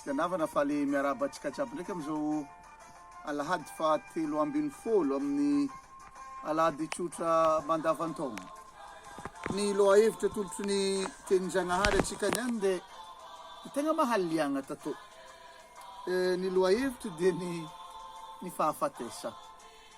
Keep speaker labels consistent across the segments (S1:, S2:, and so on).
S1: Kristy anavana faly miarahaba antsika jiaby ndraiky amin'izao alahady fahatelo ambin'ny folo amin'ny alahady tsotra mandavan-taona. Ny lohahevitra tolotry ny tenin-Jagnahary antsika niany dia ny tegna mahaliagna tato. Eh, ny lohahevitra dia ny ny fahafatesana.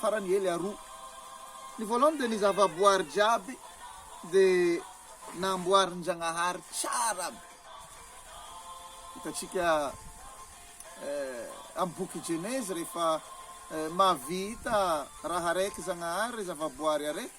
S1: farany hely aroa. Ny voalohany dia ny zavaboary jiaby dia namboarin-Jagnahary tsara be. Hitantsika amin'ny boky Genezy rehefa mahavita raha araiky Zagnahary, zavaboary araiky,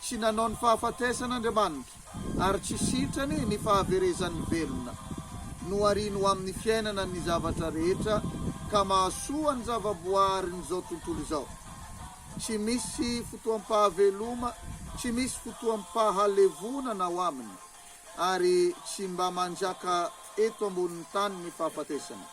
S1: Tsy nanao ny fahafatesana Andriamanitra, ary tsy sitrany ny fahaverezan'ny velona. Nohariany ho amin'ny fiainana ny zavatra rehetra, ka mahasoa ny zavaboaharin'izao tontolo izao. Tsy misy fotoam-pahaveloma, tsy misy fotoam-pahalevonana ao aminy, ary tsy mba manjaka eto ambonin'ny tany ny fahafatesana,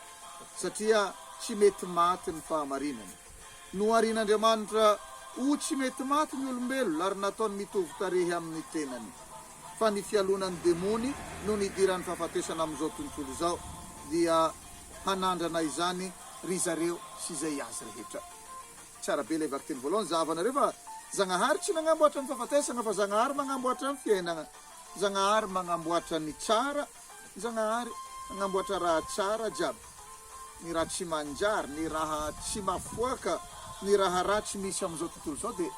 S1: satria tsy mety maty ny fahamarinana. Noharian'Andriamanitra ho tsy mety maty ny olombelona ary nataony mitovy tarehy amin'ny tenany. Fa ny fialonan'ny demony no nidiran'ny fahafatesana amin'izao tontolo izao dia hanandrana izany ry zareo sy izay azy rehetra. Tsara be ilay vakiteny voalohany, zahavanareo fa Zagnahary tsy nagnamboatra ny fahafatesana fa Zagnahary magnamboatra ny fiainana. Zagnahary magnamboatra ny tsara. Zagnahary hanamboatra raha tsara jiaby, ny raha tsy manjary, ny raha tsy mafoaka, ny raha ratsy misy amin'izao tontolo izao dia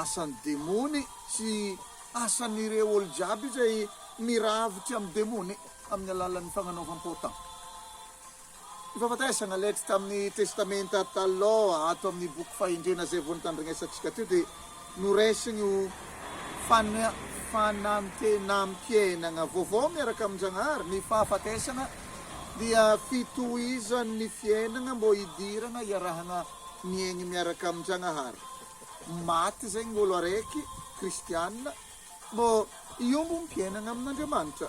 S1: asan'ny demony sy asan'ireo olo jiaby izay miravotra amin'ny demony amin'ny alalan'ny fagnanaovam-paotana. Ny fahafatesana leitsy tamin'ny Testamenta Taloha ato amin'ny boky fahendrena izay vao nitandregnesantsika teo dia noraisiny ho fanantenam-piainana vaovao miaraka amin-Janahary. Ny fahafatesana dia fitohizan'ny fiainana mbo hidirana hiarahana miaigny miaraka amin-Janahary. Maty izay ny olo araiky kristiana mbo hiombom-piainana amin'Andriamanitra.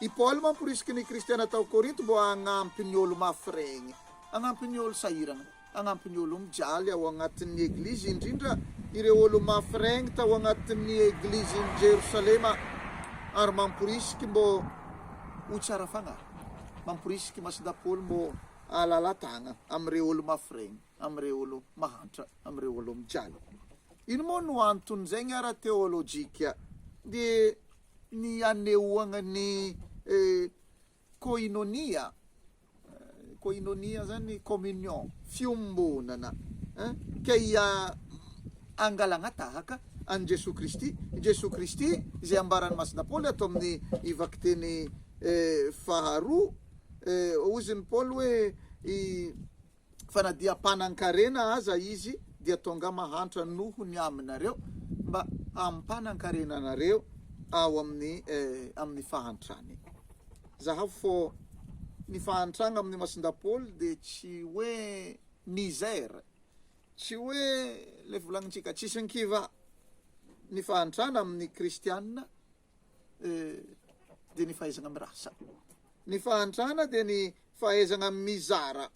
S1: I Paoly mamporisika ny kristiana tao Korinto mba hanampy ny olo-mafy regny, hanampy ny olo-sahirana, hanampy ny olo-mijaly ao agnatin'ny eglizy, indrindra ireo olo-mafy regny tao agnatin'ny eglizin'i Jerosalema, ary mamporisika mbô ho tsara fagnahy. Mamporisika i Masida Paoly mbô hahalala tagna amin'ireo olo-mafy regny, amin'ireo olo mahantra, amin'ireo olo-mijaly. Ino moa no anton'izegny ara-teolojika? Dia ny hanehoagna ny koinonia, koinonia zany communion, fiombonana eh, ke ia angalagna tahaka an'i Jesoa Kristy, i Jesoa Kristy izay ambaran'i Masina Paoly ato amin'ny vakiteny faharoa, hozy ny Paoly hoe i fa na dia mpanan-karena aza izy dia tonga mahantra noho ny aminareo mba hampanan-karena anareo ao amin'ny amin'ny fahantrany. Zahavo fô ny fahantragna amin'ny masin-dapôly dia tsy hoe misère, tsy hoe le volagnintsika tsisy ny kivà. Ny fahantrana amin'ny kristiana dia ny fahaizana mirasa. Ny fahantrana dia ny fahaizana mizara.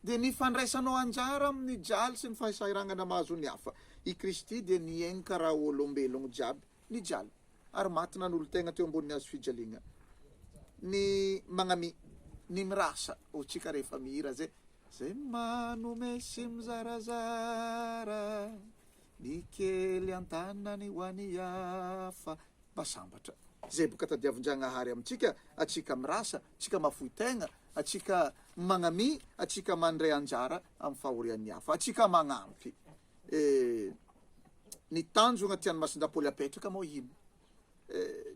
S1: Dia ny fandraisanao anjara amin'ny jaly sy ny fahasahiranana mahazo ny hafa. I Kristy dia nienka raha olombelogno jiaby, nijaly, ary maty nanolo-tegna teo ambonin'ny hazo fijaliagna. Ny magnami, ny mirasa, ho tsika rehefa mihira ze, Ze manome sy mizarazara. Ny kely an-tanany ho an'ny hafa. Mba sambatra. Izay boka tadiavin-Jagnahary amintsika, antsika mirasa, antsika mahafoy tegna, antsika magnamia, antsika mandray anjara amin'ny fahorian'ny hafa, antsika magnampy. Eh, ny tanjogna tian'i Masindahy Paoly apetraka moa ino?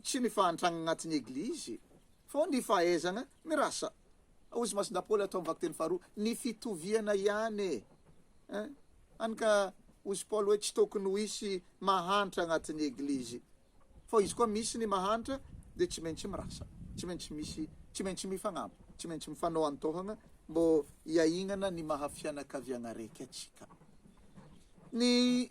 S1: tsy ny fahantrana anatin'ny Eglizy, fa ao ny fahaizana mirasa. Hoy izy Masina Paoly hatao amin'ny vakiteny faharoa, ny fitoviana ihany e! Eh? Hany ka hoy izy Paoly hoe tsy tokony ho hisy mahantra anatin'ny Eglizy, fa izy koa misy ny mahantra dia tsy maintsy mirasa, tsy maintsy misy, tsy maintsy mifagnampy, tsy maintsy mifanao an-tohana mbô hiahignana ny maha fianakaviagna raika antsika. Ny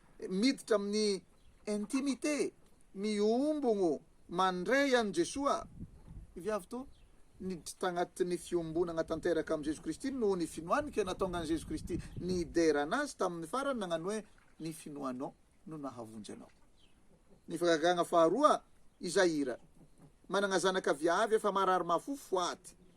S1: Miditra amin'ny intimité, mihombogno mandray an'i Jesoa, ny viavy toa niditra tagnatin'ny fiombonagna tanteraka amin'i Jeso Kristy noho ny finoany ke natonga an'i Jeso Kristy nidera anazy tamin'ny farany nagnano hoe, Ny finoanao no nahavonjy anao. Ny fagagagna faharoa, izay ira. Managna zanaka viavy efa marary mafofo, faty.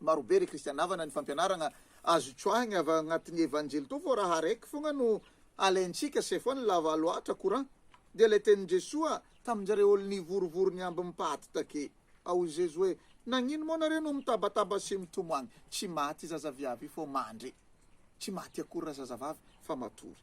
S1: marobe ry Christian havana ny fampianaragna azo tsoahigny avy agnatigny evanjely toa fô raha araiky fogna no alaintsika c'est fa nilava loatra courant dia le tenin Jesoa taminjare olo nivorivory niamby ny paty take ao i Jesoa hoe nagnino moa nareo no mitabataba sy mitomagny tsy maty zaza viavy fô mandry tsy maty akory ra zazavavy fa matory